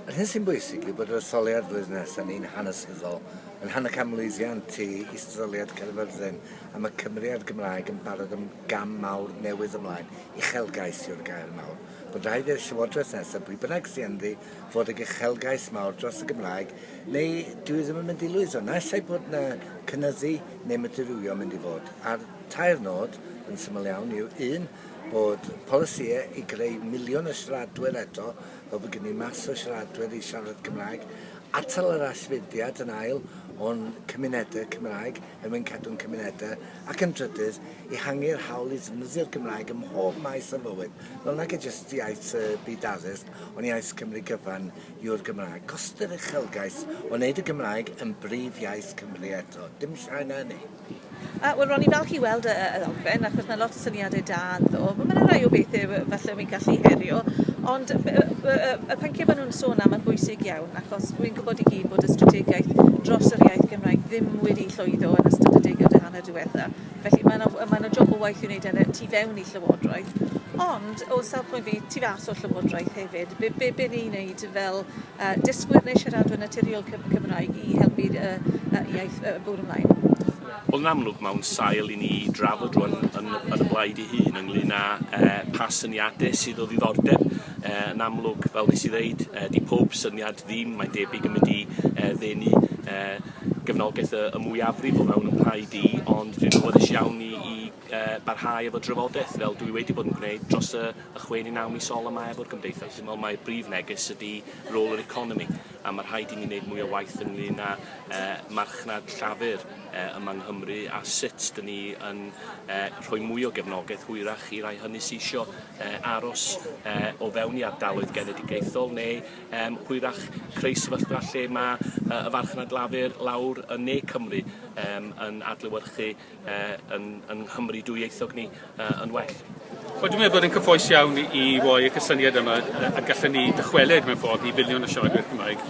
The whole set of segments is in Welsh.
Yr hyn sy'n bwysig yw bod yr etholiad flwyddyn nesaf yn un hanesyddol, yn rhan o ganmlwyddiant i Is-etholiad Caerfyrddin a mae Cymru a'r Gymraeg yn barod am gam mawr newydd ymlaen, uchelgais yw'r gair mawr. Mae'n rhaid i'r Llywodraeth nesaf, pwy bynnag sy ynddi, fod ag uchelgais mawr dros y Gymraeg neu dwi ddim yn mynd i lwyddo. Naill ai bod 'na cynyddu neu mae dirywio'n mynd i fod. A'r tair nod, yn syml iawn, yw un, bod polisïau i greu miliwn o siaradwyr eto Fel bod gen i mas o siaradwyr i siarad Cymraeg, atal yr allfudiad yn ail o'n cymunedau Cymraeg er mwyn cadw'n cymunedau, ac yn drydydd, ehangu'r hawl i ddefnyddio'r Gymraeg ym mhob maes o fywyd, fel nag e jyst iaith y byd addysg, ond iaith Cymru gyfan yw'r Gymraeg. Gost yr uchelgais o wneud y Gymraeg yn brif iaith Cymru eto, dim llai na hynny. Yy wel ro'n i'n falch i weld y y y ddogfen achos ma' lot o syniade da ynddo fo. Ma' 'na rai o bethe we- falle wi'n gallu herio ond yy yy we- yy y pyncie ma' nw'n sôn am yn bwysig iawn achos wi'n gwbod i gyd bod y strategaeth dros yr iaith Gymraeg ddim wedi llwyddo yn ystod y deugaw dy hanner diwetha felly ma' 'na w- yy ma' 'na job o waith i'w neud yn y tu fewn i llywodraeth ond o safbwynt fi tu fas o'r llywodraeth hefyd be' be' be' ni'n neud fel A dysgwyr neu siaradwyr naturiol Cymraeg i helpu y iaith bwrw ymlaen. Wel yn amlwg mae o'n sail i ni drafod rwan yn yn y blaid ei hun ynglŷn â yy pa syniade sydd o ddiddordeb yy yn amlwg fel nes i ddeud yy 'di pob syniad ddim mae'n debyg yn mynd i yy ddenu yy gefnogaeth y y mwyafrif o fewn 'yn mhlaid i ond dwi'n awyddus iawn i i barhau efo drafodaeth fel dwi wedi bod yn gwneud dros y y chwe ne' naw mis ola 'ma efo'r Gymdeithas. Dwi me'wl mai brif neges ydi rôl yr economi a ma' rhaid i ni neud mwy o waith ynglŷn â yy marchnad llafur yy yma yng Nghymru a sut 'dyn ni yn yy rhoi mwy o gefnogaeth hwyrach i rai hynny sy isio yy aros yy o fewn i ardaloedd genedigaethol neu yym hwyrach creu sefyllfa lle ma' yy y farchnad lafur lawr yn ne Cymru yym yn adlewyrchu yn, yn Nghymru dwyieithog ni uh, yn well. Wel, dwi'n meddwl bod yn cyffoes iawn i roi y cysyniad yma a gallen ni dychwelyd mewn ffordd i filiwn o siaradwyr Cymraeg.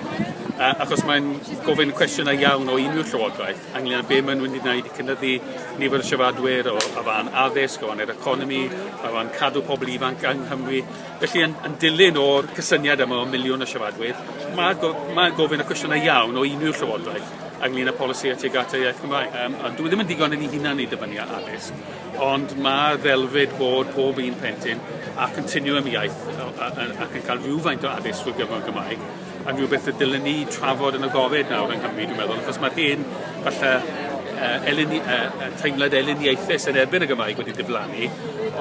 A, achos mae'n gofyn cwestiynau iawn o unrhyw llywodraeth ynglyn â be maen nhw'n wedi gwneud i cynyddu nifer y siaradwyr o, o fan addysg, o fan yr economi, o fan cadw pobl ifanc yng Nghymru. Felly, yn, yn dilyn o'r cysyniad yma o miliwn o siaradwyr, mae'n go, mae gofyn y cwestiynau iawn o unrhyw llywodraeth. ynglyn â polisi a tuag at y iaith Gymraeg. Um, ond dwi ddim yn digon yn ei hunan i dyfynnu ar addysg, ond mae ddelfyd bod pob un plentyn a continuum iaith ac yn cael rhywfaint o addysg drwy gyfrwng Gymraeg yn rhywbeth y dylen ni trafod yn y gofyd nawr yng Nghymru, dwi'n meddwl, achos mae'r hyn falle uh, eleni, uh, teimlad eleniaethus yn erbyn y Gymraeg wedi diflannu,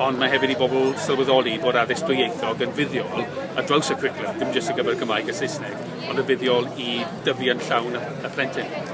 ond mae hefyd i bobl sylweddoli bod addysg dwyieithog yn fuddiol ar draws y cwricwlwm, dim jyst ar gyfer y Gymraeg a Saesneg, ond yn fuddiol i dyfu yn llawn y plentyn.